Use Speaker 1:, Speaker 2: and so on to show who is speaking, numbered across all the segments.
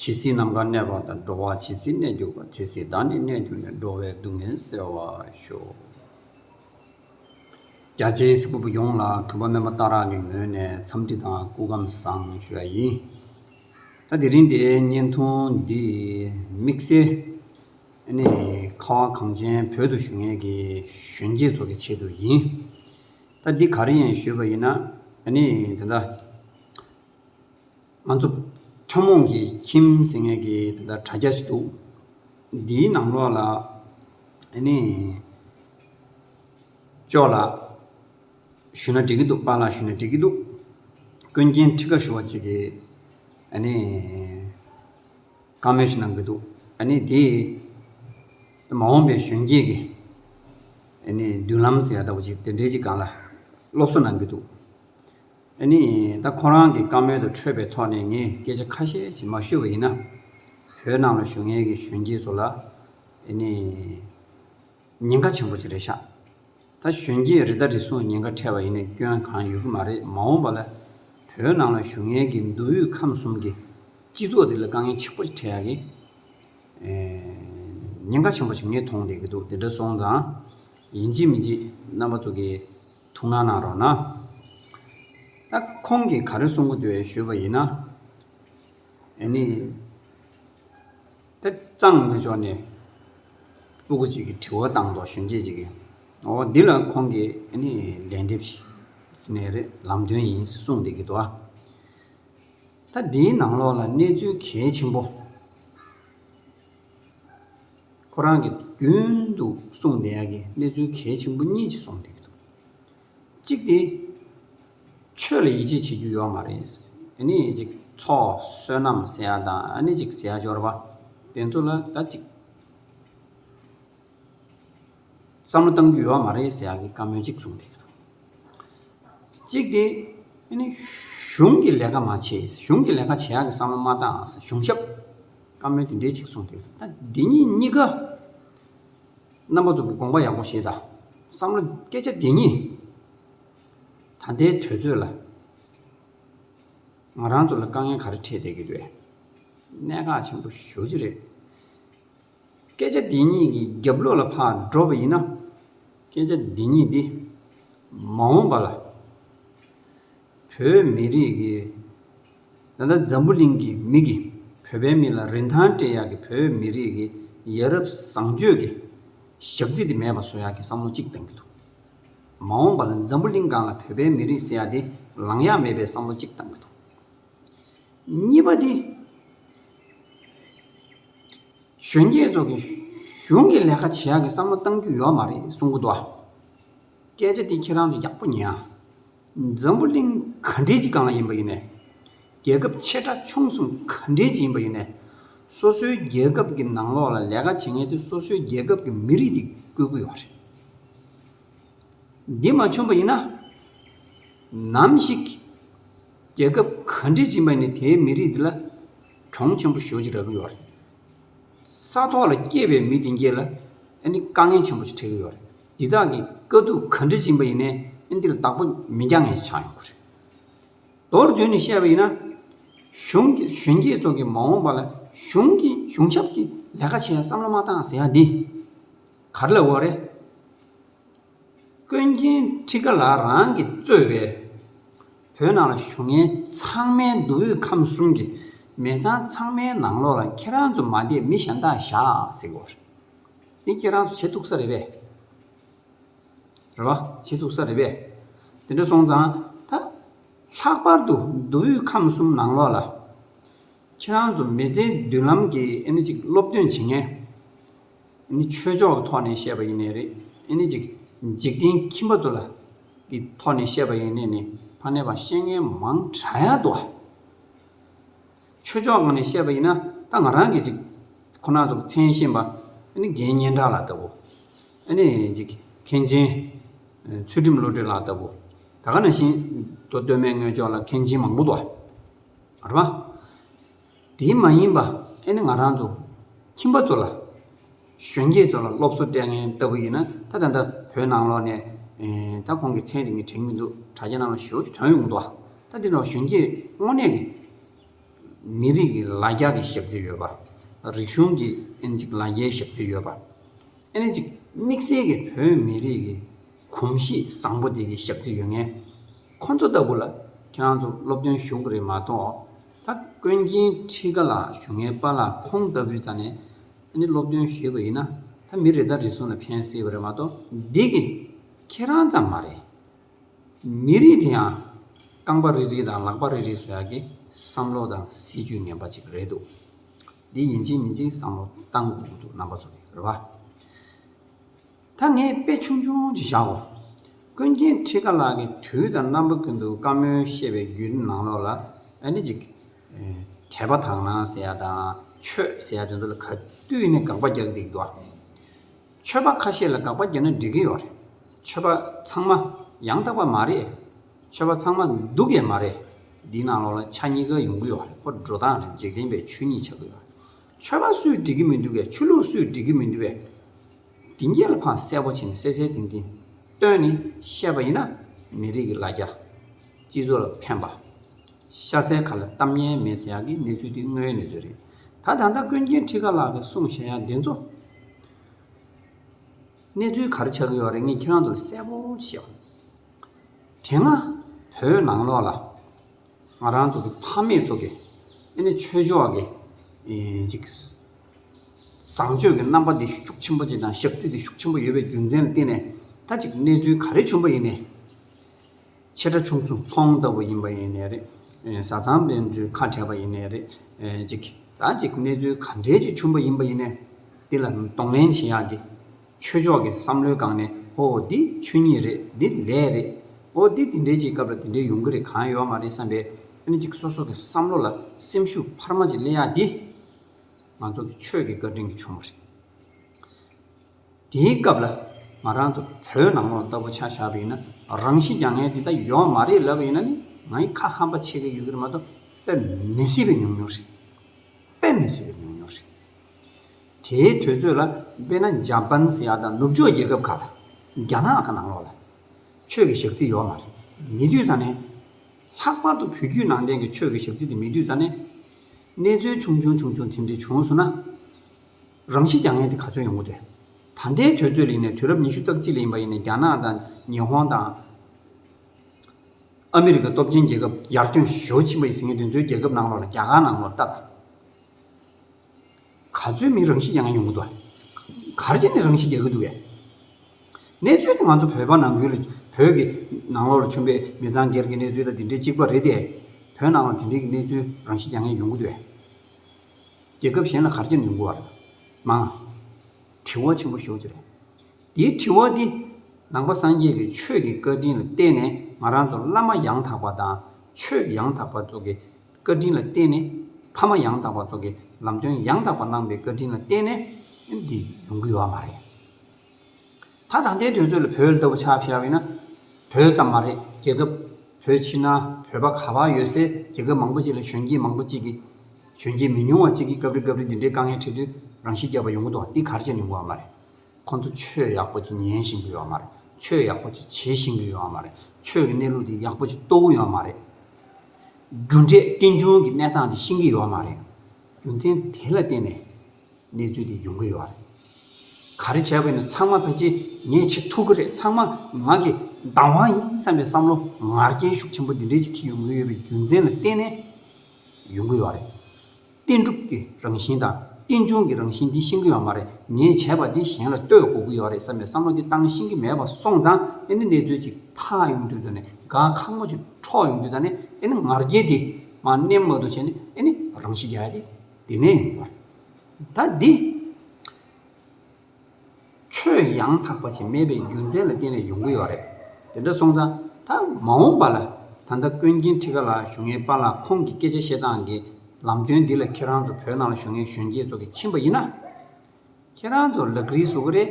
Speaker 1: ཇི་སྲིད་ནམ་མཁའ་གནས་པ་དང་འགྲོ་བ་ཇི་སྲིད་གནས་གྱུར་པ་དེ་སྲིད་བདག་ནི་གནས་གྱུར་ནས་འགྲོ་བའི་སྡུག་བསྔལ་སེལ་བར་ཤོག། རྒྱ་ཆེའི་སྲིད་པོ་ཡོངས་ལ་གུས་པ་སྨོན་པ་བཏང་རག་གི་ངོས་ནས་འཚམས་འདྲི་དང་སྐུ་བསྒམས་བཟང་ཞུ་བ་ཡིན། ད་དེ་རིང་འདིའི་བརྙན་ཐུང་འདི་དམིགས་བསལ། ནི། ཁ་བ་གངས་ཅན་བོད་དུ་བཞུགས་མཁན་གྱི་གཞོན་སྐྱེས་ཚོ་གི་ཆེད་དུ་ཡིན། ད་འདི་ག་རེ་ཡིན་ཞུས་པ་ཡིན་ན། ནི། དེ་འདྲ། ང་ཚོ་ཐུན་མོང་གི་ཁྱིམ་ཟེར་མཁན་གྱི་དེ་ལྟར་དྲ་རྒྱ་ཞིག་འདུག་འདིའི་ནང་ལོགས་ལ་ཨ་ནི་ཅོག་ལགས་ཞུས་ན་འགྲིག་གི་འདུག་པཱ་ལགས་ཞུས་ན་འགྲིག་གི་འདུག་ཀུན་མཁྱེན་ཁྲི་ཀ་ཞུ་བ་གཅིག་གིས་ཨ་ནི་བཀའ་མོལ་ཞིག་གནང་གི་འདུག་ཨ་ནི་དེ་མ་འོངས་པའི་གཞོན་སྐྱེས་ཀྱི་ཨ་ནི་མདུན་ལམ་ཟེར་ཡག་ལྟ་བུ་ཞིག་དེ་འདྲས་ཅིག་གང་ལ་སློབ་གསོ་གནང་གི་འདུག། ཨ་ནི། ད་ཁོ་རང་གི་བཀའ་མོལ་དུ་འཕྲོས་པའི་ཐོག་ནས་ངས་སྐད་ཆ་ཁ་ཤས་ཞིག་མ་ཤོད་པ་ཡིན་ན། བོད་ནང་ལ་བཞུགས་མཁན་གྱི་གཞོན་སྐྱེས་ཚོ་ལ། ཨ་ནི། ཉེན་ཁ་ཆེན་པོ་ཅིག་རེད་ཤག། ད་གཞོན་སྐྱེས་རི་དྭགས་རི་སྲུང་ཉེན་ཁ་འཕྲད་པ་ཡིན་ན་སྐྱོན་གང་ཡོད་ཀྱི་མ་རེད་མ་འོངས་པ་ལ། བོད་ནང་ལ་བཞུགས་མཁན་གྱི་མདོ་དབུས་ཁམས་གསུམ་གྱི་སྤྱི་ཚོགས་དེ་ལ་དཀའ་ངལ་ཆེན་པོ་ཅིག་འཕྲད་ཡག་གི། ཉེན་ཁ་ཆེན་པོ་ཅིག་ངས་མཐོང་བསྡད་ཀྱི་འདུག་དེ་འདྲ་སོང་ཙང། ཡིན་གཅིག་མིན་གཅིག་རྣམ་པ་ཚོ་གིས། ཐུགས་སྣང་གནང་རོགས་གནང། ད་ཁོང་གིས་ག་རེ་གསུང་གི་འདུག་ཨེ་ཞུས་པ་ཡིན་ན། ནི། དེ་གཙང་མི་ཕྱོགས་ནས། སྤུ་གུ་ཅིག་གིས་དྲི་བ་བཏང་འདུག་གཞོན་སྐྱེས་ཅིག་གིས། འོ་འདི་ལ་ཁོང་གིས་ནི་ལན་འདེབས་ཤིག། ནས་རེད་ལམ་སྟོན་ཡིན་གསུངས་འདུག་གི་འདུག་ཨ། ད་འདིའི་ནང་ལོགས་ལ་གནས་ཚུལ་གལ་ཆེན་པོ། ཁོ་རང་གིས་རྒྱུན་དུ་གསུངས་བསྡད་ཡག་གི་གནས་ཚུལ་གལ་ཆེན་པོ་གཉིས་ཅིག་གསུངས་བསྡད་ཀྱི་འདུག་གཅིག་དེ། ཆོས་ལ་ཡིད་ཆེས་བྱེད་རྒྱུ་ཡོག་མ་རེད། ཨཱ་ནི་ཅིག་ཚོགས་བསོད་ནམས་ཟེར་ཡག་དང་ཨཱ་ནི་ཅིག་ཟེར་ཡག་སྦྱོར་བ་དེ་ཚོ་ལ་ད་ཅིག། བསམ་བློ་གཏང་རྒྱུ་ཡོད་བ་མ་རེད་ཟེར་ཡག་གི་བཀའ་མོལ་གཅིག་གསུངས་བསྡད་འདུག་གཅིག་སྟེ། གཞུང་གི་ལས་ཀ་མ་བྱས་གཞུང་གི་ལས་ཀ་བྱེད་ཡག་གི་བསམ་བློ་མ་བཏང་ཨ་ཟེར་གཞུང་ཞབས་བཀའ་མོལ་དེ་འདྲས་གཅིག་གསུངས་བསྡད་འདུག་ད་འདི་གཉིས་གཉིས་ཀ། རྣམ་པ་ཚོ་གི་དགོངས་པ་ཡག་པོ་བཞེས་ད་བསམ་བློ་སྐད་ཆ་འདི་གཉིས། ད་ལྟའི་དུས་ཚོད་ལ། ང་རང་ཚོ་ལ་དཀའ་ངལ་ག་རེ་འཕྲད་བསྡད་ཀྱི་རེད། གནད་འགག་ཆེན་པོ་ཞོ་གི་རེད། སྐད་ཆ་འདི་གཉིས་ཀྱི་རྒྱབ་ལོགས་ལ་འཕགས་འགྲོ་བ་ཡིན་ན། སྐད་ཆ་འདི་གཉིས་འདི། མ་འོངས་པ་ལ། བོད་མི་རིགས་ཀྱི། ད་ལྟ་འཛམ་བུ་གླིང་གི་མིག་གིས་བོད་པའི་མི་ལ་རིན་ཐང་སྤྲད་ཡག་གི་བོད་མི་རིགས་ཀྱི་ཡ་རབས་བཟང་སྤྱོད་ཀྱི་ཞག་རྩི་དེ་མེད་པ་བཟོ་ཡག་གི་བསམ་བློ་གཅིག་བཏང་གི་འདུག། མ་འོངས་པ་ལ་འཛམ་བུ་གླིང་སྒང་ལ་བོད་པའི་མི་རིགས་ཟེར་ཡག་དེ་ལངས་ཡག་མེད་པའི་བསམ་བློ་གཅིག་བཏང་གི་འདུག། གཉིས་པ་དེ། གཞོན་སྐྱེས་ཚོ་གིས་གཞུང་གི་ལས་ཀ་བྱེད་ཡག་གི་བསམ་བློ་གཏང་རྒྱུ་ཡོད་མ་རེད་གསུང་གི་འདུག་ཨ། སྐད་ཆ་འདི་ཁྱེད་རང་ཚོ་ཡག་པོ་ཉན་ཨ། འཛམ་བུ་གླིང་ག་འདྲའི་སྤྱི་སྒང་ལ་ཡིན་པ་ཡིན་ནས། རྒྱལ་ཁབ་ཆེ་ཕྲ་ཆུང་གསུམ་ག་འདྲའི་སྤྱི་ཡིན་པ་ཡིན་ནས། སོ་སོའི་རྒྱལ་ཁབ་ཀྱི་ནང་ལོགས་ལ་ལས་ཀ་བྱེད་མཁན་ཚོས་སོ་སོའི་རྒྱལ་ཁབ་ཀྱི་མི་རིགས་དེ་བཀུར་དགོས་པ་རེད། འདི་མ་བྱུང་པ་ཡིན་ན། ནམ་ཞིག་རྒྱལ་ཁབ་ག་འདྲའི་སྤྱི་ཡིན་པ་ཡིན་ནས་དེའི་མི་རིགས་དེ་ལ། གྲོང་ཆེན་པོ་ཞོལ་གྱི་ར་ཁུལ་བ་རེད། ས་ཐོག་ལ་སྐྱེས་པའི་མི་དེ་འགས་ལ་ཨ་ནི་དཀའ་ངལ་ཆེན་པོ་ཞིག་འཕྲད་ཀྱི་ཡོད་རེད། འདི་དག་གི་དཀའ་སྡུག་ག་འདྲི་བྱིན་པ་ཡིན་ནའི་ཨ་འདི་ལ་བདག་པོ་མི་རྒྱག་ངེས་ཅིག་ཆགས་ཡོང་གི་རེད། མདོར་བསྡུས་ནས་བཤད་པ་ཡིན་ན། གཞོན་སྐྱེས་ཚོ་གིས་མ་འོངས་པ་ལ་གཞུང་གི་གཞུང་ཞབས་ཀྱི་ལས་ཀ་བྱེད་ཡ་བསམ་བློ་མ་བཏང་ཟེར་ཡ་འདི་ག་རེ་ལ་འོས་རེད། ཀུན་མཁྱེན་ཁྲི་ཀ་ལགས་རང་གིས་གཙོས་པའི་བོད་ནང་ལ་བཞུགས་མཁན་ཚང་མའི་མདོ་དབུས་ཁམས་གསུམ་གྱི་མི་ཚང་ཚང་མའི་ནང་ལོགས་ལ་ཁྱེད་རང་ཚོ་མ་བསྡད་མི་གཞན་དག་བཞག་ཟེར་དགོས་རེད། འདི་ཁྱེད་རང་ཚོ་བྱེད་ཐུག་ས་རེད་པས། རེད་པ། བྱེད་ཐུག་ས་རེད་པས། དེ་འདྲ་སོང་ཙང་ད་ལྷག་པར་དུ་མདོ་དབུས་ཁམས་གསུམ་ནང་ལོགས་ལ་ཁྱེད་རང་ཚོ་མི་ཚེའི་མདུན་ལམ་གྱི་ཨེ་ནི་ཅིག་སློབ་སྟོན་བྱེད་མཁན། འདི་ནི་ཆོས་ཕྱོགས་ཀྱི་ཐོག་ནས་བཤད་པ་ཡིན་ནི་རེད། འདི་ནི་འཇིག་རྟེན་ཁྱིམ་པ་ཚོ་ལ་གི་ཐོག་ནས་བཤད་པ་ཡིན་ནི་ནི་ཕ་ནས་བ་ཤེས་མཁན་མང་གྲ་ཡ་འདུག་ཨ། ཆོས་ཕྱོགས་ངང་ནས་བཤད་པ་ཡིན་ན་ད་ང་རང་གི་ཅིག་ཁོ་ན་ཚོ་མཚན་གཞན་པ་འདི་ནི་རྒན་སྙན་གྲགས་ལགས་ལྟ་བུ། འདི་ནི་འཇིག་མཁན་ཆེན་ཚུལ་ཁྲིམས་བློ་གྲོས་ལགས་ལྟ་བུ། ད་ག་ན་བཞིན་དོ་སྟོད་སྨད་སྔོན་ཕྱོགས་ལ་མཁན་ཆེན་མང་པོ་འདུག་ཨ། རེད་མ། དེ་མ་ཡིན་པ་ཨེ་ནི་ང་རང་ཚོ་ཁྱིམ་པ་ཚོ་ལ། གཞོན་སྐྱེས་ཚོ་ལ་སློབ་གསོ་སྤྲད་མཁན་ལྟ་བུ་ཡིན་ན་ད་ད་ལྟ་བོད་ནང་ལོག་ནས། ད་ཁོང་གི་མཚན་དེ་ངས་དྲན་གྱི་འདུག་དྲ་རྒྱ་ནང་ལ་ཞོའུ་ཆུ་དོན་ཡོང་འདུག་ཨ། ད་དེ་འདྲ་བ་གཞོན་སྐྱེས་དངོས་གནས་ཀྱི། མི་རིགས་ཀྱི་ལ་རྒྱ་ཀྱི་ཞབས་རྩི་ཡོད་པ། རིག་གཞུང་གི་ཨེ་ནི་ཅིག་ལ་རྒྱའི་ཞབས་རྩི་ཡོད་པ། ཨེ་ནི་ཅིག་དམིགས་བསལ་གྱི་བོད་མི་རིགས་ཀྱི་གོམས་གཤིས་བཟང་པོ་དེ་གི་ཞབས་རྩི་ཡོད་ངེས། ཁོ་ཚོ་ལྟ་བུ་ལ་ཁྱེད་རང་ཚོ་སློབ་སྟོན་ཞུགས་རེད་མ་གཏོགས་ད་ཀོན་མཁྱེན་ཁྲི་ཀ་ལགས་ཞུ་ངེས་པ་ལ་ཁོང་ལྟ་བུའི་རྩ་ནས་ནི་སློབ་སྟོན་བཞུས་པ་ཡིན་ན་ད་མི་རེ་དང་རེ་ཟུང་ལ་ཕན་སྲིད་པ་རེད་མ་གཏོགས་འདི་གི་ཁྱེད་རང་ཙམ་མ་རེད། མི་རིགས་དེ་ཡང་རྐང་པ་རེ་རེ་དང་ལག་པ་རེ་རེ་བཟོ་ཡག་གི་བསམ་བློ་དང་སྲིད་ཇུས་ངན་པ་ཅིག་རེད་འདུག་འདི་ཡིན་གཅིག་མིན་གཅིག་བསམ་བློ་གཏང་དགོས་ཀྱི་འདུག་རྣམ་པ་ཚོ་རེད་བ། ད་ངས་དཔེ་ཆུང་ཆུང་ཅིག་བཞག་གོ། ཀུན་མཁྱེན་ཁྲི་ཀ་ལགས་ཀྱི་དུས་དང་རྣམ་པ་ཀུན་ཏུ་བཀའ་མོལ་བཤད་པའི་བརྒྱུད་རིམ་ནང་ལོགས་ལ་ཨ་ནེ་ཅིག། དད་པ་དག་སྣང་ཟེར་ཡ་དང་ཆོས་ཟེར་ཡ་དེ་ཚོ་ལ་ག་དུས་ནས་དགག་པ་རྒྱག་བསྡད་ཀྱི་འདུག་ཨ། ཆོས་པ་ཁ་ཤས་ལ་དགག་པ་རྒྱག་ན་འགྲིག་གི་ཡོད་རེད། ཆོས་པ་ཚང་མ་ཡང་དག་པ་མ་རེད། ཆོས་པ་ཚང་མ་སྡུག་ཡས་མ་རེད། འདིའི་ནང་ལོགས་ལ་ཆ་གཉིས་ཀ་ཡོང་གི་ཡོད་རེད་པོ་འགྲོ་སྟངས་རེད་འཇིག་རྟེན་པའི་ཆོས་ཉིད་ཆགས་ཀྱི་ཡོད་རེད། ཆོས་པ་སུས་འགྲིག་གི་མི་འདུག་གས་ཆོས་ལུགས་སུས་འགྲིག་གི་མི་འདུག་གས། དེང་རྒྱལ་ལ་ཕངས་གསལ་པོ་བྱས་ནས་གསལ་གསལ་ཏིང་ཏིང་སྟོན་ནི་བཤད་པ་ཡིན་ན། མི་རིགས་ཀྱི་ལ་རྒྱ། སྤྱི་ཚོགས་ལ་ཕན་པ། ཤ་ཚའི་ཁ་ལ་གཏམ་སྙན་མེད་ཟེར་ཡག་གི་གནས་ཚུལ་འདི་དངོས་ཡོད་གནས་ཚུལ་རེད། ད་ད་ལྟ་ཀུན་མཁྱེན་ཁྲི་ཀ་ལགས་ཀྱི་གསུང་བཤད་ཡག་འདི་ཚོ། གནས་ཚུལ་ག་རེ་ཆགས་ཀྱི་ཡོད་རེད་ངས་ཁྱེད་རང་ཚོ་ལ་གསལ་པོ་བཤད། དེ་སྔ་བོད་ནང་ལོགས་ལ། ང་རང་ཚོ་གི་ཕ་མེས་ཚོ་གི་ཨེ་ནས་ཆོས་ཕྱོགས་ཀྱི་ཅིག་བཟང་སྤྱོད་ཀྱི་རྣམ་པ་འདི་ཤུགས་ཆེན་པོ་ཅིག་དང་ཞབས་རྩིས་འདི་ཤུགས་ཆེན་པོ་ཡོད་པའི་རྒྱུ་མཚན་ལ་བརྟེན་ནས་ད་ཅིག་གནས་ཚུལ་ག་རེ་བྱུང་བ་ཡིན་ནས་ཆེ་ཕྲ་ཆུང་གསུང་ཚོང་ལྟ་བུ་ཡིན་པ་ཡིན་ནས་རེད་བཟའ་ཚང་དཔོན་སྤྲུལ་ཁ་བྲལ་བ་ཡིན་ནས་རེད་ཅིག་ད་ཅིག་གནས་ཚུལ་ག་འདྲའི་ཅིག་བྱུང་བ་ཡིན་པ་ཡིན་ནས་འདི་ལ་གདོང་ལེན་བྱེད་ཡག་གི། ཆོས་ཕྱོགས་ཀྱི་བསམ་བློའི་སྒང་ནས་ཨོ་འདི་ཆོས་ཉིད་རེད་འདི་ལས་རེད། ཨོ་འདི་འདི་འདྲའི་ཅིག་སྐབས་ལ་འདི་འདྲའི་ཡོང་གི་རེད་གང་ཡོད་མ་རེད་བསམ་པའི་ཨ་ནི་ཅིག་སོ་སོ་གི་བསམ་བློ་ལ་སེམས་ཤུགས་འཕར་མ་ཅིག་གླེང་ཡག་འདི་ང་ཚོ་གི་ཆོས་ཀྱི་བཀའ་དྲིན་གྱི་ཆུང་མ་རེད། དེའི་སྐབས་ལ་ང་རང་ཚོ་བོད་ནང་ལོག་ལྟ་བུ་ཆགས་བཞག་པ་ཡིན་ན་རང་བཞིན་རྒྱ་ངན་འདི་དག་ཡོང་མ་རེད་ལབ་པ་ཡིན་ན་ནི་ང་ཡི་ཁ་ཧམ་པ་ཆེ་གི་ཡོད་གི་རེད་མ་གཏོགས་དཔེ་མི་སྲིད་པའི་ཉུང་ཉུང་རེད་དཔེ་མི་སྲིད་པའི་ཉུང་ཉུང་རེད། དེའི་དུས་ཚོད་ལ་དཔེར་ན་འཇའ་པན་སི་ཡ་དང་ནུབ་ཕྱོགས་རྒྱལ་ཁབ་ཁག་ལ་རྒྱ་ནག་དང་ནང་ལོགས་ལ་ཆོས་ཀྱི་ཞག་རྩི་ཡོད་མ་རེད། མི་བསྡུས་ཚར་ནས། ལྷག་པར་དུ་བོད་བརྒྱུད་ནང་བསྟན་གྱི་ཆོས་ཀྱི་ཞག་རྩི་དེ་མི་བསྡུས་ཚར་ནས། གནས་ཚུལ་ཆུང་ཆུང་ཆུང་ཆུང་དེ་འདྲ་བྱུང་སོང་ན། རང་ཤི་རྒྱག་ངེས་དེ་ག་ཚོད་ཡོང་གི་རེད། ད་ལྟའི་དུས་ཚོད་ལིང་ནས་དུས་རབས་ཉི་ཤུ་རྩ་གཅིག་ལིང་པ་ཡིན་ནས་རྒྱ་ནག་དང་ཉི་ཧོང་དང། ཨ་མི་རི་ཀ་སྟོབས་ཆེན་རྒྱལ་ཁབ་ཡར་ཐོན་ཞོ་ཕྱིན་པ་ཡི་ཟི་ངེ་དེ་ཚོའི་རྒྱལ་ཁབ་ནང་ལོགས་ལ་རྒྱ་གར་ནང་ལོགས་ལ་བལྟ། ག་ཚོད་མིན་རང་བཞིན་གྱི་ང་ཡོང་གི་འདུག་ག། གར་བྱེད་ནི་རང་བཞིན་རྒྱག་གི་འདུག་གས། གནས་ཚུལ་དེ་ང་ཚོ་བོད་པ་ནང་ཁུལ་ལ་བོད་ཀྱི་ནང་ལོགས་ལ་བྱུང་པའི་མི་ཚང་སྒེར་གྱི་གནས་ཚུལ་དང་དེ་འདྲའི་གཅིག་པ་རེད་དེ། བོད་ནང་ལ་དེ་འདྲའི་གི་གནས་ཚུལ་རང་བཞིན་རྒྱག་ངེས་ཡོང་གི་འདུག་གས། རྒྱལ་ཁབ་གཞན་ལ་གར་བྱེད་ནི་ཡོང་གི་བར་མང། དྲི་བ་ཆེན་པོ་ཞོག་ཅིག་རེད། འདིའི་དྲི་བ་འདི། ནང་པ་སངས་རྒྱས་ཀྱི་ཆོས་ཀྱི་བཀའ་དྲིན་ལ་བརྟེན་ནས་ང་རང་ཚོ་བླ་མ་ཡང་དག་པ་དང་ཆོས་ཡང་དག་པ་ཚོ་གི། བཀའ་དྲིན་ལ་བརྟེན་ནས་ཕ་མ་ཡང་དག་པ་སོགས་ཀྱི་ལམ་སྟོན་ཡང་དག་པ་གནང་པའི་བཀའ་དྲིན་ལ་བརྟེན་ནས་འདི་ཡོང་གི་ཡོད་མ་རེད། ད་ད་ལྟའི་དུས་ཚོད་ལ་བོད་ལྟ་བུ་ཆགས་བཞག་ཡོད་ན། བོད་ཙམ་མ་རེད་རྒྱལ་ཁབ་བོད་ཕྱི་ནང་བོད་པ་ག་བར་ཡོད་སའི་རྒྱལ་ཁབ་མང་པོ་ཞིག་ལ་གཞོན་སྐྱེས་མང་པོ་གཅིག་གིས། གཞོན་སྐྱེས་མི་ཉུང་བ་གཅིག་གིས་སྐབས་རེ་སྐབས་རེ་འདི་འདྲའི་དཀའ་ངལ་འཕྲད་དུས་རང་ཤི་རྒྱག་པ་ཡོང་གི་འདུག་འདི་གར་བྱས་ནས་འགོ་བ་མ་རེད། ཁོང་ཚོ་ཆོས་ཡག་པོ་ཅིག་ཉན་བཞིན་གི་ཡོད་མ་རེད་ཆོས་ཡག་པོ་ཅིག་བྱེད་བཞིན་གི་ཡོད་མ་རེད་ཆོས་ཀྱི་གནས་ལུགས་འདི་ཡག་པོ་ཅིག་རྟོགས་གི་ཡོད་མ་རེད། རྒྱུ་འབྲས་རྟེན་འབྱུང་གི་གནས་སྟངས་དེ་ཤེས་ཀྱི་ཡོད་མ་རེད། རྒྱུ་མཚན་དེ་ལ་བརྟེན་ནས་གནས་ཚུལ་དེ་ཡོང་གི་ཡོད་རེད། ག་རེ་བྱས་པ་ཡིན་ན་ཚང་མ་ཕལ་ཆེར་ངས་བྱེད་ཐུབ་ཀྱི་རེད་ཚང་མ་ང་གི་བདག་དབང་ཡིན་བསམ་པའི་བསམ་བློ་ངར་རྐྱེན་ཤུགས་ཆེན་པོ་འདི་འདྲའི་ཅིག་ཁེལ་ཡོང་གི་ཡོད་པའི་རྒྱུ་མཚན་ལ་བརྟེན་ནས་ཡོང་གི་ཡོད་རེད། བསྟན་འགྲུབ་ཀྱི་རང་བཞིན་དང་རྟེན་འབྱུང་གི་རང་བཞིན་འདི་ཤེས་ཀྱི་ཡོད་མ་རེད་ངས་བྱས་པ་འདི་གཞན་ལ་ལྟོས་དགོས་ཀྱི་ཡོད་རེད་བསམ་པའི་བསམ་བློ་འདི་བཏང་ཤེས་ཀྱི་མེད་པ་སོང་ཙང་ཨེ་ནི་གནས་ཚུལ་ཅིག་ཐག་ཡོང་དུས་ཙང་ནས་དགའ་ཁ་མོ་ཅིག་འཕྲོག་ཡོང་དུས་ཙང་ནས་ཨེ་ནི་ངར་སྐྱེས་དེ་མ་གནས་མ་འདུག་བྱས་ནས་ཨེ་ནི་རང་ཤི་རྒྱག་ཡ་དེ་དེ་ནས་ཡོང་བ་རེད་ད་འདི། ཆོས་ཡང་དག་པ་ཞིག་མེད་པའི་རྒྱུ་མཚན་ལ་བརྟེན་ནས་ཡོང་གི་ཡོད་རེད། དེ་འདྲ་སོང་ཙང་ད་མ་འོངས་པ་ལ། ད་ལྟ་ཀོན་རྒྱན་ཁྲི་ཀ་ལགས་བཞུགས་ངེས་པ་ལ་ཁོང་གི་སྐད་ཆ་བཤད་སྟངས་ཀྱི་ལམ་སྟོན་འདི་ལ་ཁྱེད་རང་ཚོ་བོད་ནང་ལ་བཞུགས་ངེས་གཞོན་སྐྱེས་ཚོ་གི་ཕྱིན་པ་ཡིན་ན། ཁྱེད་རང་ཚོ་ལག་རིལ་བཟོ་གི་རེད།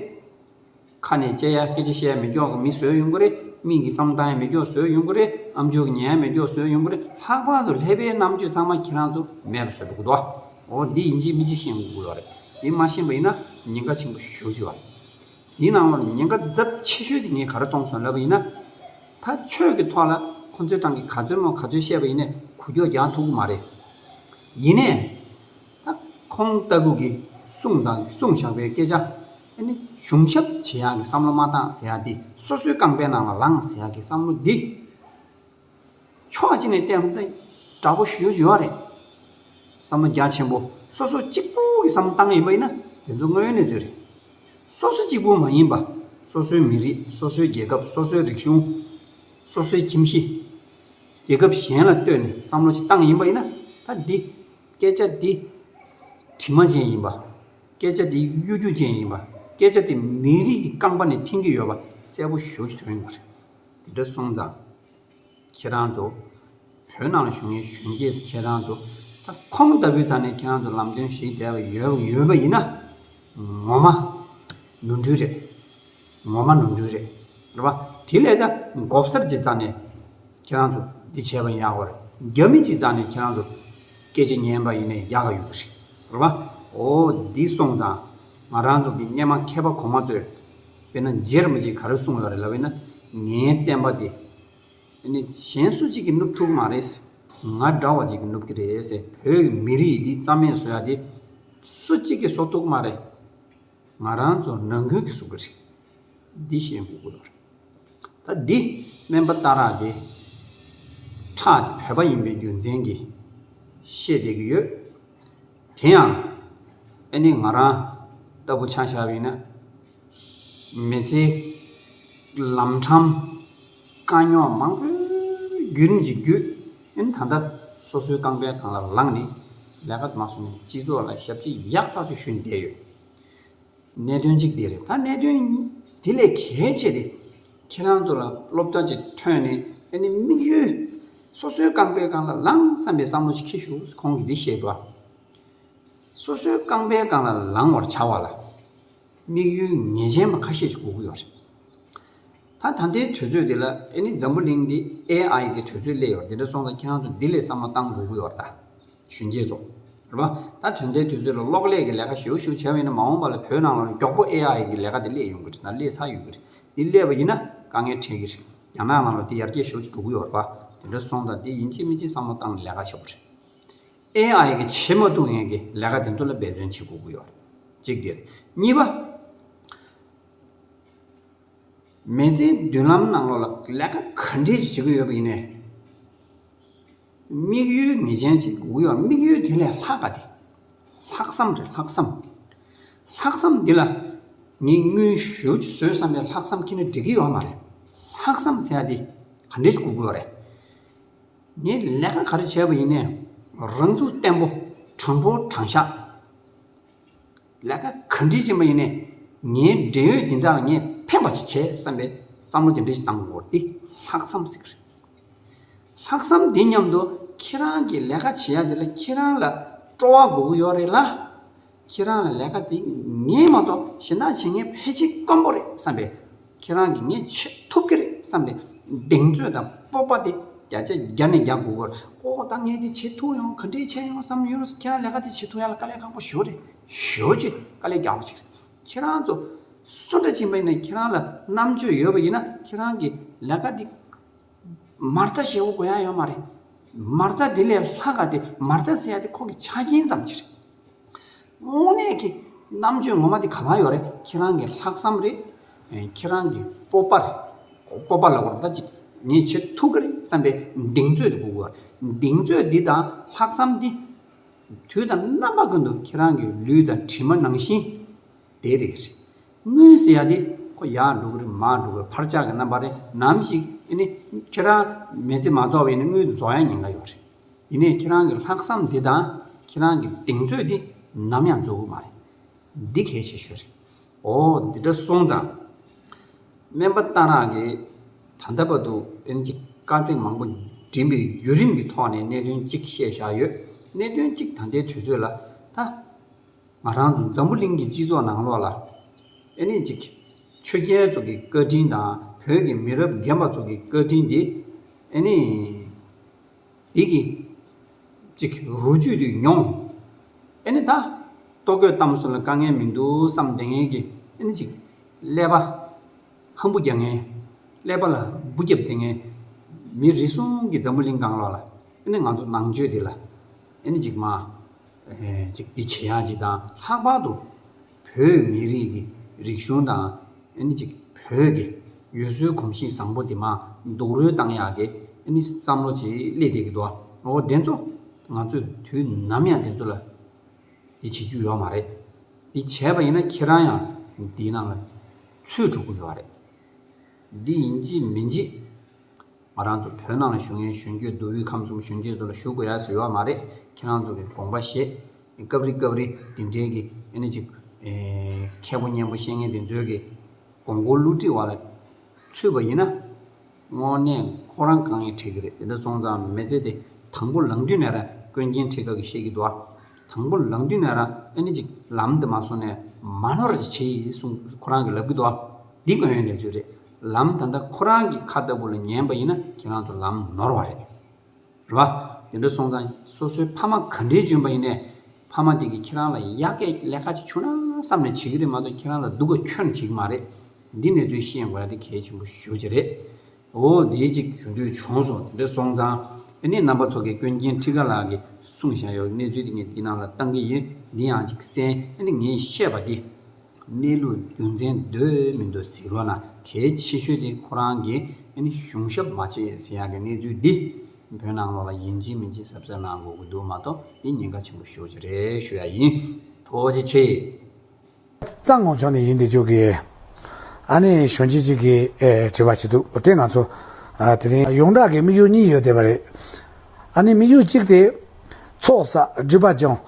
Speaker 1: ཁ་ནས་དཔྱད་ཡ་སྐད་ཆ་བཤད་ཡ་མི་སྐྱོག་གི་མི་བཟོས་ཡོང་གི་རེད། མིག་གིས་བསམ་བཏང་ཡ་མི་སྐྱོག་བཟོས་ཡོང་གི་རེད། ཨ་མཆོག་གི་ཉན་ཡ་མི་སྐྱོག་བཟོས་ཡོང་གི་རེད། ལྷག་པར་དུ་ལྷས་པའི་རྣམ་དཔྱོད་ཚང་མ་ཁྱེད་རང་ཚོ་མེད་པ་བཟོས་འདུག་གདའ། འོ་འདི་ཡིན་གྱིས་མི་གཅིག་ཤེས་དགོས་བ་རེད། དེ་མ་ཤེས་པ་ཡིན་ན་ཉེན་ཁ་ཆེན་པོ་ཞུགས་ཀྱི་བ་རེད། དེའི་ནང་ལོར་ཉེན་ཁ་རྫབ་ཆེ་ཤོས་དེ་ངས་ག་རེ་གཏོང་སོང་ལབ་པ་ཡིན་ན། ད་ཆོས་ཀྱི་ཐོག་ལ་ཁོང་ཚོའི་ཏང་གིས་ག་ཚོད་མོ་ག་ཚོད་བཤད་པ་ཡིན་ནས་གུ་གྱོགས་རྒྱག་ཐུབ་གི་མ་རེད། ཡིན་ནས། ད་ཁོང་ལྟ་བུ་གིས་གསུངས་དང་གསུངས་བཞག་པའི་སྐད་ཆ། ཨ་ནི་གཞུང་ཞབས་བྱེད་ཡག་གི་བསམ་བློ་མ་བཏང་ཟེར་ཡག་དེ་སོ་སོའི་རྐང་པའི་ནང་ལ་ལངས་ཟེར་ཡག་གི་བསམ་བློ་འདི། ཕྱོགས་གཅིག་ནས་བལྟས་ན་ཏེ། དྲག་པོ་ཞུ་བྱེད་བ་རེད། བསམ་བློ་རྒྱ་ཆེན་པོ་སོ་སོ་གཅིག་པུ་གི་བསམ་བློ་བཏང་ཡིན་པ་ཡིན་ན་དེ་ཚོ་དངོས་ཡོད་གནས་ཚུལ་རེད། སོ་སོ་གཅིག་པུ་མ་ཡིན་པ་སོ་སོའི་མི་རིགས་སོ་སོའི་རྒྱལ་ཁབ་སོ་སོའི་རིག་གཞུང། སོ་སོའི་ཁྱིམ་གཞི། རྒྱལ་ཁབ་གཞན་ལ་ལྟོས་ནས་བསམ་བློ་ཅིག་བཏང་ཡིན་པ་ཡིན་ན་ད་འདི། སྐད་ཆ་འདི། དྲི་མ་ཅན་ཡིན་པ། སྐད་ཆ་འདི་གཡོ་སྒྱུ་ཅན་ཡིན་པ། སྐད་ཆ་འདི་མི་རིགས་ཀྱི་རྐང་པ་ནས་འཐེན་གྱི་ཡོད་པ་གསལ་པོ་ཞུ་བྱེད་དོན་ཡོད་པ་རེད། དེ་འདྲ་སོང་ཙང་ཁྱེད་རང་ཚོ་བོད་ནང་ལ་བཞུགས་མཁན་གཞོན་སྐྱེས་ཁྱེད་རང་ཚོ་ད་ཁོང་ལྟ་བུའི་ཙང་ནས་ཁྱེད་རང་ཚོ་ལམ་སྟོན་བྱེད་བསྡད་པ་ཡོད་པ་ཡིན་ན་ངོ་མ་ནོར་འཁྲུལ་རེད། ངོ་མ་ནོར་འཁྲུལ་རེད་རེད་པ། དེ་ལས་ད་འགོ་གསར་གྱི་ཙང་ནས་ཁྱེད་རང་ཚོ་འདི་བྱས་པ་ཡག་པ་རེད། རྒྱ་མི་གྱི་ཙང་ནས་ཁྱེད་རང་ཚོ་སྐད་ཆ་ཉན་པ་ཡིན་ན་ཡག་ཡོད་རེད་རེད་པ། འོ་འདི་སོང་ཙང་ང་རང་ཚོ་གི་རྙེད་མ་མཁས་པ་གོང་མ་ཚོས་དཔེར་ན་རྗེར་མི་བྱེད་ག་རེ་གསུངས་ཡོད་རེད་ལབ་བས་ན། ངའི་བསྟན་པ་འདི། དེ་ནི་གཞན་སུ་གཅིག་གིས་བསྣུབ་ཐུབ་ཀྱི་མ་རེད། ང་འདྲ་བ་ཅིག་གིས་བསྣུབ་ཀྱི་རེད། བོད་མི་རིགས་འདི་རྩ་མེད་བཟོ་ཡ་དེ། སུ་གཅིག་གིས་བཟོ་ཐུབ་ཀྱི་མ་རེད། ང་རང་ཚོ་རང་འགུལ་གྱིས་བཟོ་གི་རེད། འདི་བཤད་འགོ་དགོས་པ་རེད། ད་འདི་སྨན་པ་རྟ་རག་འདི། ཁྲག་འདི་བོད་པ་ཡིན་པའི་རྒྱུ་མཚན་གྱིས། བཤད་བསྡད་ཀྱི་ཡོད། དེ་ཡང། ཨེ་ནས་ང་རང་ལྟ་བུ་ཆ་བཞག་ཡིན་ན། མི་ཚེའི་ལམ་འཕྲང་དཀའ་རྙོག་མང་པོའི་བརྒྱུད་རིམ་གྱི་བརྒྱུད་རིམ་ད་ལྟ་སོ་སོའི་རྐང་པའི་གང་ལ་ལངས་ནས་ལས་ཀ་དུ་མ་བཟུང་ནས་སྤྱི་ཚོགས་ལ་ཞབས་ཕྱི་ཡག་ཐག་ཆོད་ཞུས་ནས་བསྡད་ཡོད། གནད་དོན་གཅིག་དེ་རེད། ད་གནད་དོན་དེ་ལས་གལ་ཆེ་དེ། ཁྱེད་རང་ཚོ་ལ་སློབ་གྲྭ་གཅིག་ཐོན་ནས་ཨ་ནི་དམིགས་ཡུལ། སོ་སོའི་རྐང་པའི་སྒང་ལ་ལངས་བསམ་པའི་བསམ་བློ་ཞིག་ཁྱེད་ཞུགས་ཁོང་གིས་འདི་བཤད་པ། སོ་སོའི་རྐང་པའི་སྒང་ལ་ལངས་བར་བྱ་བ་ལ། དམིགས་ཡུལ་ངེས་ཅན་པ་ཁ་ཤས་ཀྱི་སྒུག་གི་ཡོད་རེད། ད་ད་ལྟའི་དུས་ཚོད་འདི་ལ་ཨ་ནི་འཛམ་བུ་གླིང་འདི AI གི་དུས་ཚོད་སླེབས་ཡོད་རེད་འདི་འདྲ་སོང་ཙང་ཁྱེད་རང་ཚོ་འདི་ལས་བསམ་བློ་བཏང་སྒུག་གི་ཡོད་རེད་ད། གཞོན་སྐྱེས་ཚོ། རེད་བ། ད་དོན་ལྟའི་དུས་ཚོད་ལ་གློག་ཀླད་ཀྱི་ལས་ཀ་ཞེའུ་ཞེའུ་བྱས་པ་ཡིན་ན་མ་འོངས་པ་ལ་བོད་ནང་ལ་མགྱོགས་པོ་ཨེ་ཨ་ཡི་གི་ལས་ཀ་དེ་སླེབས་ཡོང་གི་རེད་དང་སླེབས་ཚར་ཡོད་གི་རེད། འདི་སླེབས་པ་ཡིན་ན་དཀའ་ངལ་འཕྲད་གི་རེད། རྒྱ་ནག་ནང་ལ་དེ་ཡར་རྒྱས་ཤོར་གྱི་འགྲོ་གི་ཡོད་རེད་བ། དེ་འདྲ་སོང་ཙང་དེ་ཡིན་གཅིག་མིན་གཅིག་བསམ་བློ་བཏང་ནས་ལས་ཀ་བྱེད་དགོས་རེད། ཨེ་ཨ་ཡི་གི་བྱེད་མ་བཏུབ་ཡན་གི་ལས་ཀ་དེ་ཚོ་ལ་འབད་བརྩོན་བྱེད་དགོས་གི་ཡོད་རེད། གཅིག་དེ་རེད། གཉིས་པ། མེ་ལྕེའི་མདུན་ལམ་ནང་ལོགས་ལ་ལས་ཀ་ག་འདྲས་ཀྱི་བྱེད་གི་ཡོད་པ་ཡིན་ནའི། དམིགས་ཡུལ་ངེས་ཅན་གྱི་དགུག་གཡོག་དམིགས་ཡུལ་དེ་ལས་ལྷག་ག་དེ། ལྷག་བསམ་རེད་ལྷག་བསམ། ལྷག་བསམ་འདི་ལ་ངས་དངུལ་ཞོ་གཅིག་ཟོས་བསམ་པའི་ལྷག་བསམ་ཁྱེད་ནས་འགྲིག་གི་ཡོད་མ་རེད། ལྷག་བསམ་ཟེར་བ་འདི་ག་འདྲའི་དགུག་གཡོག་རེད། ངས་ལས་ཀ་ག་རེ་བྱས་པ་ཡིན་ནའི་རང་ཚུགས་བརྟན་པོ་དྲང་པོ་དྲང་བཞག་ལས་ཀ་ག་འདྲིའི་ཅན་པ་ཡིན་ནས་ངའི་འབྲེལ་ཡོད་འདི་དག་ལ་ངས་ཕན་པ་ཅིག་བྱེད་བསམ་པའི་བསམ་བློ་དེ་འདྲ་ཞིག་བཏང་བར་འོར་ཏེ་ལྷག་བསམ་ཟེར་གྱི་རེད། ལྷག་བསམ་དེ་མཉམ་དུ་ཁྱེད་རང་གིས་ལས་ཀ་བྱེད་ཡ་དེ་ལ་ཁྱེད་རང་ལ་སྤྲོ་བ་དགོས་ཀྱི་ཡོད་རེད་ལ། ཁྱེད་རང་ལ་ལས་ཀ་དེ་ངས་མ་གཏོགས་གཞན་དག་བྱེད་མཁན་ཕལ་ཆེར་དཀོན་པོ་རེད་བསམ་པའི། ཁྱེད་རང་གིས་ངས་བྱེད་ཐུབ་ཀྱི་རེད་བསམ་སྟེ་གདེང་ཚོད་དང་སྤོབས་པ་དེ་བརྒྱ་ཆ་བརྒྱ་ནས་བརྒྱ་དགུ་སྐོར་ཨོ་ད་ངས་དེ་བྱེད་ཐུབ་ཡོང་ག་འདྲའི་ཆེ་ཡོང་བསམ་ཡོད་རེད་ཁྱེད་རང་ལས་ཀ་དེ་བྱེད་ཐུབ་ཡ་ལ་དཀའ་ལས་ཁག་པོ་ཞོ་རེད་ཞོ་ཅེས་དཀའ་ལས་རྒྱག་པ་ཞིག་རེད་ཁྱེད་རང་ཚོ་སུ་འདྲ་ཕྱིན་པ་ཡིན་ན་ཁྱེད་རང་ལ་རྣམ་དཔྱོད་ཡོད་པ་ཡིན་ན་ཁྱེད་རང་གིས་ལས་ཀ་དེ་མར་རྩ་ཞེ་བོ་གོ་ཡང་ཡོད་མ་རེད། མར་རྩ་དེ་ལས་ལྷ་དགའ་སྟེ་མར་རྩ་ཟེར་ཡ་དེ་ཁོག་གི་ཆ་རྐྱེན་ཙམ་གྱི་རེད། དངོས་གནས་ཀྱི་རྣམ་དཔྱོད་ངོ་མ་དེ་ག་ལ་ཡོད་རེད་ཁྱེད་རང་གི་ལྷག་བསམ་རེད། ཁྱེད་རང་གི་སྤོབས་པ་རེད། སྤོབས་པ་ལ་གོ་ད་ཅིག་ངས་བྱེད་ཐུབ་ཀྱི་རེད་བསམ་པའི་གདེང་ཚོད་དེ་འགུག་དགོས། གདེང་ཚོད་འདི་དང་ལྷག་བསམ་འདི། དུས་དང་རྣམ་པ་ཀུན་ཏུ་ཁྱེད་རང་གི་ལུས་དང་གྲིབ་མ་ནང་བཞིན། དེའི་རིགས་ཤིག། དངོས་སུ་ཡག་དེ། ཁོ་ཡག་འགྲོ་གི་རེད་མ་འགྲོ་གི་འཕར་ཆག་གི་རྣམ་པ་རེད་ནམ་ཞིག་ཡིན་ནའི། ཁྱེད་རང། མེ་ལྕེ་མ་རྫོགས་བས་ནི་དངུལ་དུ་རྫོགས་ཡ་ཉེན་ཁ་ཡོད་རེད། ཡིན་ནའི་ཁྱེད་རང་གི་ལྷག་བསམ་དེ་དང། ཁྱེད་རང་གི་གདེང་ཚོད་དེ། ནམ་ཡང་རྫོགས་གི་མ་རེད། འདི་གལ་ཆེ་ཤོས་རེད། འོ། འདི་འདྲ་སོང་ཙང། སྨན་པ་རྟ་རག་གིས། ད་ལྟ་བར་དུ། ཨེམ་ཅི། དཀའ་ཚེགས་མང་པོ། འགྲིམ་པའི་བརྒྱུད་རིམ་གྱི་ཐོག་ནས་གནད་དོན་གཅིག་བཤད་བཞག་ཡོད། གནད་དོན་གཅིག་ད་ལྟའི་དུས་ཚོད་ལ། ད། ང་རང་ཚོ་འཛམ་བུ་གླིང་གི་སྤྱི་ཚོགས་ནང་ལོགས་ལ། ཨེ་ནི་ཅིག། ཆོས་རྒྱལ་ཚོ་གི་བཀའ་དྲིན་དང་བོད་ཀྱི་མི་རབས་རྒན་པ་ཚོ་གི་བཀའ་དྲིན་དེ། ཨེ་ནི། འདི་གི། ཅིག་རུ་བཅུད་དུ་མྱོང། ཨེ་ནི་ད། ལྟོ་གོས་གཏམ་སུན་ལ་དཀའ་ངལ་མི་འདུག་བསམ་བདེ་ངལ་གྱི་ཨེ་ནི་ཅིག། ཀླད་པ། ཧམ་བུ་རྒྱག་ངལ། ཀླད་པ་ལ་སྦུ་རྒྱབ་བསྡད་ངལ། མི་རེ་ཟུང་གི་འཛམ་བུ་གླིང་གང་ལོགས་ལ། ཨེ་ནི་ང་ཚོ་ནང་ཆོས་འདི་ལ། ཨེ་ནི་ཅིག་མ། ཅིག་འདི་བྱེད་ཡག་ཅིག་དང་ལྷག་པར་དུ་བོད་མི་རིགས་ཀྱི་རིག་གཞུང་དང་ཨནི་ཅིག་བོད་ཀྱི་ཡུལ་སྲོལ་གོམས་གཤིས་བཟང་པོ་འདི་མ་འདུག་རོལ་བཏང་ཡག་གི་ཨནི་བསམ་བློ་ཅིག་སླེ་དེ་གི་འདུག་ཨོ་བདེན་ཚོ་ང་ཚོས་དུས་ནམ་ཡང་བདེན་ཚོ་ལ་འདི་བྱེད་རྒྱུ་ཡོག་མ་རེད་འདི་བྱས་པ་ཡིན་ན་ཁྱེད་རང་ཡང་འདི་ནང་ལ་ཚུད་འགྲོ་གི་ཡོག་རེད་འདི་ཡིན་གཅིག་མིན་གཅིག། ང་རང་ཚོ་བོད་ནང་ལ་བཞུགས་ཡོན་གཞོན་སྐྱོད་མདོ་དབུས་ཁམས་གསུམ་གཞོན་སྐྱེས་ཚོ་ལ་ཞུ་དགོས་ཡ་ཟེར་བ་མ་རེད་ཁྱེད་རང་ཚོ་གི་དགོངས་པ་བཞེས། སྐབས་རེ་སྐབས་རེ་འདི་འདྲའི་གི་ཨེ་ནི་ཅིག་མཁས་པོ་སྙན་པོ་བཤེས་གཉེན་དེ་ཚོའི་གི་དགོངས་སྐོར་བསླུ་བྲིད་བ་ལ་ཚུད་པ་ཡིན་ན། དངོས་གནས་ཁོ་རང་དཀའ་ངལ་འཕྲད་གི་རེད་འདི་འདྲ་སོང་ཙང་མི་ཚེ་དེ་དང་པོ་ལང་དུས་ནས་རང་ཀུན་མཁྱེན་འཕྲད་དགའ་གི་ཤེས་ཀི་འདུག་ཨ། དང་པོ་ལང་དུས་ནས་རང་ཨེ་ནི་ཅིག་ལམ་འདི་མ་སོང་ནས་མ་ནོར་ཅིག་བྱེད་ཡིན་གསུངས་ཁོ་རང་གི་ལབ་གི་འདུག་ཨ། འདི་དངོས་ཡོད་གནས་ཚུལ་རེད། ལམ་ད་ལྟ་ཁོ་རང་གི་ཁ་ལྟ་བུ་ལ་ཉན་པ་ཡིན་ན་ཁྱེད་རང་ཚོ་ལམ་ནོར་བ་རེད། རེད་བ། དེ་འདྲ་སོང་ཙང་སོ་སོའི་ཕ་མ་ག་འདྲའི་འཇོན་པ་ཡིན་ནས། ཕ་མ་དེ་གིས་ཁྱེད་རང་ལ་ཡ་གད་ཀླད་ཁ་ཅིག་བྱུང་ན་བསམ་ནས་བྱེད་ཀྱི་རེད་མ་གཏོགས་ཁྱེད་རང་ལ་སྡུག་ག་ཁྱོན་བྱེད་ཀྱི་མ་རེད། འདི་ནས་ཚོས་ཤེས་དགོས་ན་དེ་གལ་ཆེན་པོ་ཞུ་བྱེད་རེད། འོ་དེའི་ཅིག་ཞུ་འདོད་བྱུང་སོང་དེ་འདྲ་སོང་ཙང། དེ་ནས་རྣམ་པ་ཚོ་གས་ཀུན་མཁྱེན་ཁྲི་ཀ་ལགས་ཀྱིས་གསུངས་བཞག་ཡོད་གནས་ཚུལ་དེ་ངས་འདི་ནང་ལ་བཏང་གི་ཡིན་འདི་ཡང་ཅིག་གསན་ཨ་ནི་ངས་བཤད་པ་དེ། གནས་ལུགས་རྒྱུ་མཚན་འདོད་མི་འདོད་ཟེར་བ་ན་གལ་ཆེ་ཤོས་དེ་ཁོ་རང་གིས་གཞུང་ཞབས་མ་བྱས་ཟེར་ཡག་གི་གནས་ཚུལ་འདི་བོད་ནང་ལོགས་ལ་ཡིན་ཅི་མིན་ཅི་གཟབ་གཟབ་གནང་དགོས་ཀྱི་འདུག་མ་གཏོགས་འདི་ཉེན་ཁ་ཆེན་པོ་ཤོས་ཅིག་རེད་ཞུ་ཡག་ཡིན་ཐུགས་རྗེ་ཆེ། རྩ་
Speaker 2: སྔོག་ཕྱོགས་ནས་ཡིན་འདི་ཅོག་གི། ཨ་ནེ་གཞོན་སྐྱེས་གཅིག་གིས་དྲི་བ་བྱས་འདུག་དེ་ང་ཚོ། དེ་རིང་ཡོངས་གྲགས་ཀྱི་དམིགས་ཡུལ་གཉིས་ཡོད་བསྡད་པ་རེད། ཨ་ནེ་དམིགས་ཡུལ་གཅིག་དེ། ཚོགས་བསགས་སྒྲིབ་པ་སྦྱོང།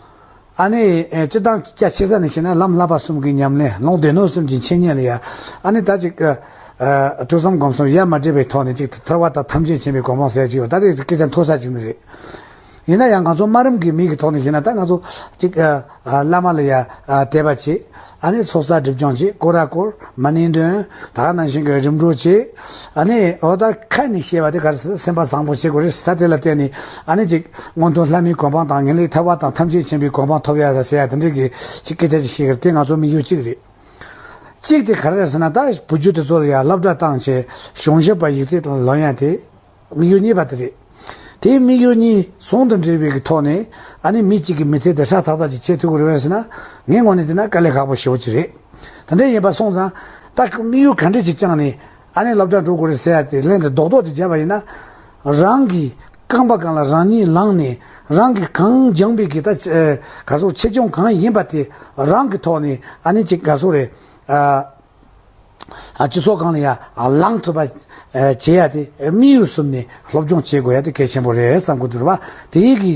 Speaker 2: ཨ་ནི། སྤྱི་བཏང་སྐྱ་ཕྱེ་ས་ནས་བྱས་ན་ལམ་བསླབ་པ་གསུམ་གྱི་ཉམས་ལེན་ལུང་བསྟན་ནོར་གསུམ་གྱི་འཆད་ཉན་ལ་ཡ། ཨ་ནི་ད་ཅིག། ཐོས་བསམ་སྒོམ་གསུམ་ཡར་མར་འདྲེས་པའི་ཐོག་ནས་ཅིག་ཐར་བ་དང་ཐམས་ཅད་མཁྱེན་པའི་གོ་འཕང་གསལ་གྱི་ཡོད་ད་དེ་སྐད་ཆ་མཐོ་ས་ཅིག་ནི་རེད། ཡིན་ན་ཡང་ང་ཚོ་སྨྲ་རིམ་གྱི་མིག་གི་ཐོག་ནས་བྱས་ན་ད་ང་ཚོ། ཅིག། བླ་མ་ལ་ཡ། དད་པ་བྱེད། ཨ་ནེ་ཚོགས་བསགས་སྒྲིབ་སྦྱངས་བྱེད་ཀོ་ར་ཀོར་མ་ནིང་འདོན། དག་སྣང་ཞིང་གི་རིམ་གྲོ་བྱེད། ཨ་ནེ། འོ་ད་ཁ་ནས་བཤད་པ་དེ་གར་སེམས་པ་བཟང་པོ་བྱེད་དགོས་རེད་ད་དེ་ལ་བརྟེན་ནས་ཨ་ནེ་གཅིག་སྔོན་ཐོན་ལྷ་མིའི་གོ་འཕང་དང་ངེས་ལེགས་ཐར་བ་དང་ཐམས་ཅད་མཁྱེན་པའི་གོ་འཕང་ཐོབ་ཡ་ཟེར་ཡ་དེ་འདྲའི་གི་ཅིག་སྐད་ཆ་ཅིག་བཤད་གི་རེད་དེ་ང་ཚོ་མི་ཡུལ་གཅིག་རེད། གཅིག་དེ་ག་རེ་རེད་ཟེར་ན་ད་བུ་རྒྱུད་དེ་ཚོ་ལ་ཡང་སློབ་གྲྭ་བཏང་བྱས་གཞུང་ཞབས་པ་ཡིག་རྩིས་དང་ལོ་ཡན་དེ། དམིགས་ཡུལ་གཉིས་པ་དེ་རེད། དེའི་དམིགས་ཡུལ་གཉིས་ཟུང་དུ་འབྲེལ་བའི་ཐོག་ནས་ཨ་ནི་མི་གཅིག་གིས་མི་ཚེ་འདི་ཧྲག་ཐག་ཐག་ཅིག་བྱེད་ཐུབ་ཀྱི་རེད་བས་ཟེར་ན་ངའི་ངོ་ནས་བལྟས་ན་དཀའ་ལས་ཁག་པོ་ཞེ་བོ་ཅིག་རེད། དེ་འདྲ་ཡིན་པར་སོང་ཙང། ད་ཁོས་དམིགས་ཡུལ་ག་འདྲས་ཅིག་བཅངས་ནས་ཨ་ནི་སློབ་གྲྭར་འགྲོ་དགོས་རེད་ཟེར་ཡ་དེ་ལན་དུ་རྡོག་རྡོག་ཅིག་བརྒྱབ་པ་ཡིན་ན། རང་གི་རྐང་པ་གང་ལ་རང་ཉིད་ལངས་ནས་རང་གིས་གང་སྦྱངས་པའི་གི་ད་ག་ཟུག་ཆེ་ཆུང་གང་ཡིན་པ་དེ་རང་གི་ཐོག་ནས་ཨ་ནི་ཅིག་ག་ཟུག་རེད། སྤྱི་ཚོགས་གང་ལ་ཡང་ལངས་ཐུབ་པ་བྱེད་ཡ་དེ་དམིགས་ཡུལ་གསུམ་ནས་སློབ་སྦྱོང་བྱེད་དགོས་ཡ་དེ་གལ་ཆེན་པོ་རེད་བསམ་དགོས་འདུག་བ་དེའི་གི།